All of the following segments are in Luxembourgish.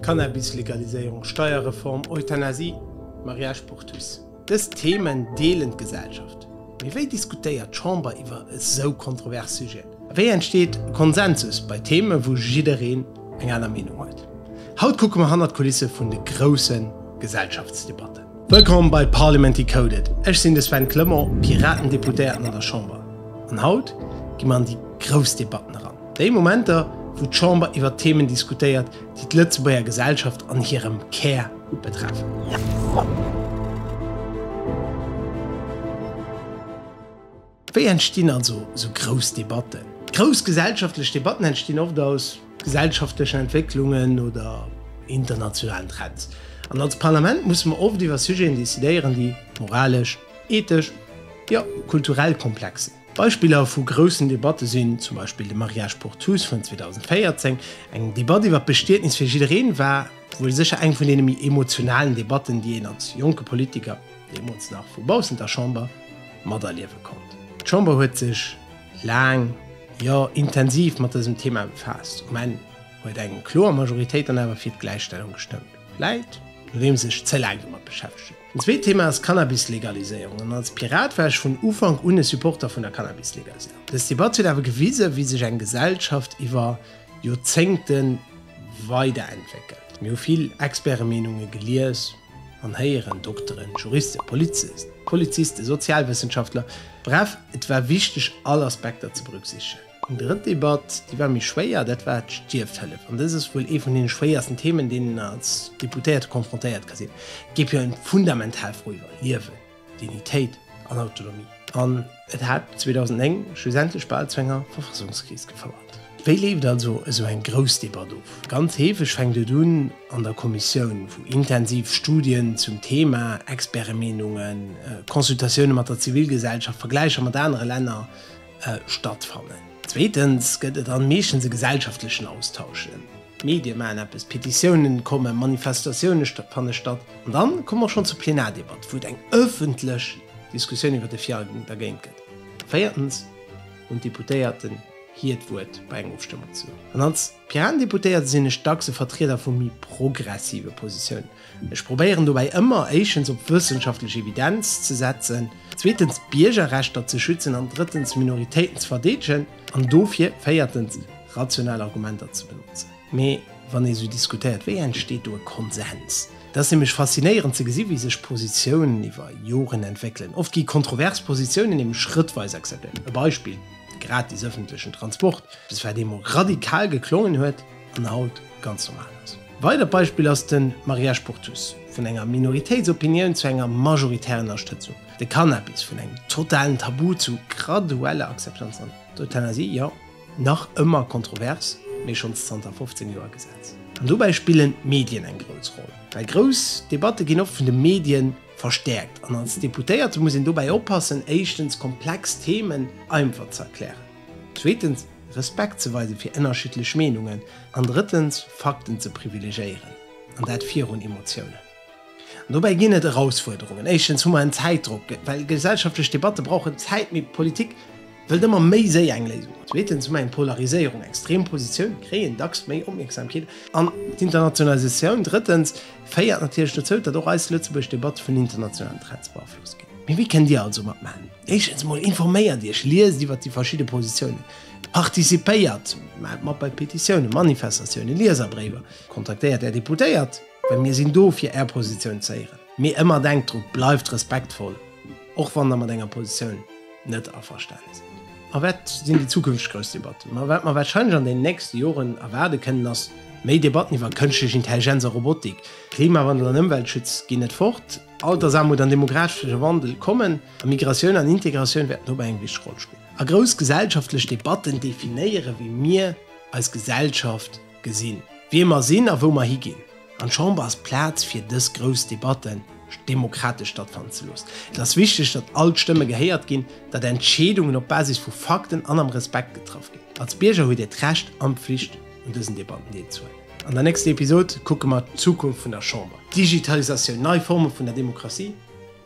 Cannabis-Legaliséierung, Steierreform, Euthanasie, Mariage pour tous, dës Themen deelen d'Gesellschaft. Mee wéi diskutéiert d'Chamber iwwer esou kontrovers Sujeten? A wéi entsteet Konsensus bei Themen, wou jiddereen eng aner Meenung huet? Haut kucke mer hannert d'Kulisse vun de grousse Gesellschaftsdebatten. Wëllkomm bei Parliament Decoded, ech sinn de Sven Clement, Piraten-Deputéierten an der Chamber. An haut gi mer an déi grouss Debatten eran, déi Momenter, wou d'Chamber iwwer Themen diskutéiert, déi d'Lëtzebuerger Gesellschaft an hirem Kär betreffen. Wéi entstinn also esou grouss Debatten? Grouss gesellschaftlech Debatten entstinn oft aus gesellschaftlechen Entwécklungen oder internationalen Trends. An als Parlament musse mer oft iwwer Sujeten decidéieren, déi moralesch, ethesch, jo kulturell komplex sinn. Beispiller vu groussen Debatte sinn zum Beispill de Mariage pour tous vun 2014. Eng Debatt iwwer d'Bestietnis fir jiddereen war wuel sécher eng vun deene méi emotionalen Debatten, déi een als jonke Politiker, deemools nach vu baussent der Chamber, materliewe konnt. D'Chamber huet sech laang, jo intensiv mat dësem Thema befaasst. Um Enn huet eng kloer Majoritéit dann awer fir d'Gläichstellung gestëmmt, vläit nodeems sech ze laang domat beschäftegt huet. Den zweet Thema ass d'Cannabis-Legaliséierung an als Pirat war ech vun Ufank un e Supporter vun der Cannabis-Legaliséierung. Dës Debatt huet awer gewisen, wéi sech eng Gesellschaft iwwer Joerzéngte weiderentwéckelt. Mir hu vill Expertemeenunge gelies an héieren, Dokteren, Juristen, Polizisten, Polizisten, Sozialwëssenschaftler, bref, et war wichteg all Aspekter ze berücksichtigen. Eng drëtt Debatt, déi war méi schwéier, dat war d'Stierfhëllef. An dëst ass wuel ee vun deene schwéiersten Themen, deenen een als Deputéierte confrontéiert ka sinn. Et géif jo ëm fundamental Fro iwwer Liewen, Dignitéit an Autonomie. An et hat 2009 schlussendlech bal zu enger Verfassungskris gefouert. Wéi leeft also esou eng grouss Debatt of? Ganz heefeg fänkt et un an der Kommissioun, wou intensiv Studien zum Thema, Expertemeenungen, Consultatioune mat der Zivilgesellschaft, Vergläicher mat anere Länner, stattfannen. Zweetens gëtt et dann meeschtens e gesellschaftlechen Austausch, d'Medie maachen eppes, Petitiounen kommen, Manifestatioune fanne statt an dann komme mer schonn zur Plenardebatt, wou et eng ëffentlech Diskussioun iwwer de fir a dergéint gëtt. Véiertens hunn d'Deputéierten hiert Wuert bei enger Ofstëmmung zu hunn. Piratendeputéierte sinn ech dacks e Vertrieder vu méi progressive Positiounen. Ech probéieren dobäi ëmmer éischens op wëssenschaftlech Evidenz ze setzen, zweetens d'Biergerrechter ze schützen an drëttens Minoritéiten ze verdeedegen an dofir véiertens rational Argumenter ze benotzen. Mee wann ee sou diskutéiert, wéi entsteet do e Konsens? Et ass nämlech faszinéierend ze gesi wéi sech Positiounen iwwer Joren entwéckelen. Oft gi kontrovers Positiounen nämlech schrëttweis akzeptéiert. E Beispill. de gratis ëffentlechen Transport, eppes wat eemol radikal geklongen huet an haut ganz normal ass. E weidert Beispill ass de Mariage pour tous, vun enger Minoritéitsopinioun zu enger majoritärer Ënnerstëtzung, de Cannabis vun engem totalen Tabu zu gradueller Akzeptanz an d'Euthanasie, jo, nach ëmmer kontrovers, mee schonns zanter 15 Joer Gesetz. An dobäi spillen d'Medien eng grouss Roll, well grouss Debatte ginn oft vun de Medien. Verstäerkt. An als Deputéierte muss een dobäi oppassen, éischtens komplex Themen einfach ze erklären, zweetens Respekt ze weise fir ënnerschiddlech Meenungen an drëttens Fakten ze privilegéieren, an dat virun Emotiounen. An dobäi ginn et Erausfuerderungen. Éischtens hu mer en Zäitdrock, well gesellschaftlech Debatte brauchen Zäit, mee d'Politik, Wëllt ëmmer méi séier eng Léisung hunn. Zweetens hu mer eng Polariséierung, extrem Positioune kréien dacks méi Opmierksamkeet an d'Internationalisatioun. Drëttens féiert natierlech dozou, datt och eis lëtzebuergesch Debatte vun internationalen Trends beaflosst ginn. Mee wéi kënnt Dir also matmaachen? Éischtens emol informéiert Iech, liest iwwer déi verschidde Positiounen, participéiert, maacht mat bei Petitiounen, Manifestatiounen, Lieserbréiwer, kontaktéiert Är Deputéiert, well mir sinn do fir Är Positioun ze héieren. Mee ëmmer denkt dru, bleift respektvoll, och wann Der mat enger Positioun. net averstänn sinn. A wat sinn déi zukünfteg grouss Debatten? Ma wat mer warscheinlech an den nächste Joren erwaarde kënnen, ass méi Debatten iwwer Kënschtlech Intelligenz a Robotik. Klimawandel an Ëmweltschutz ginn net fort, Altersaarmut an demographesche Wandel kommen, a Migratioun an Integratioun wäerten dobäi eng wichteg Roll spillen. A grouss gesellschaftlech Debatten definéieren, wéi mir eis Gesellschaft. Gesinn, wie mer sinn a wou mer higinn. An d'Chamber ass d'Plaz, fir dës grouss Debatte demokratesch stattfannen ze loossen. Et ass wichteg, datt all d'Stëmme gehéiert ginn, datt Entscheedungen op Basis vu Fakten an am Respekt getraff ginn. Als Bierger hutt Dir d'Recht an d'Pflicht, un dësen Debatten deelzehuelen. An der nächster Episod kucke mer d'Zukunft vun der Chamber, Digitalisatioun, nei Forme vun der Demokratie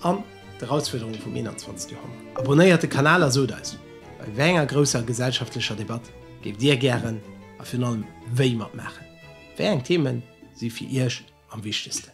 an d'Erausfuerderunge vum 21. Joerhonnert. Abonnéiert de Kanal a sot eis, bei wéi enger grousser gesellschaftlecher Debatt géift Dir gären A virun allem, wéi matmaachen? Wéi eng Themen si fir Iech am wichtegsten?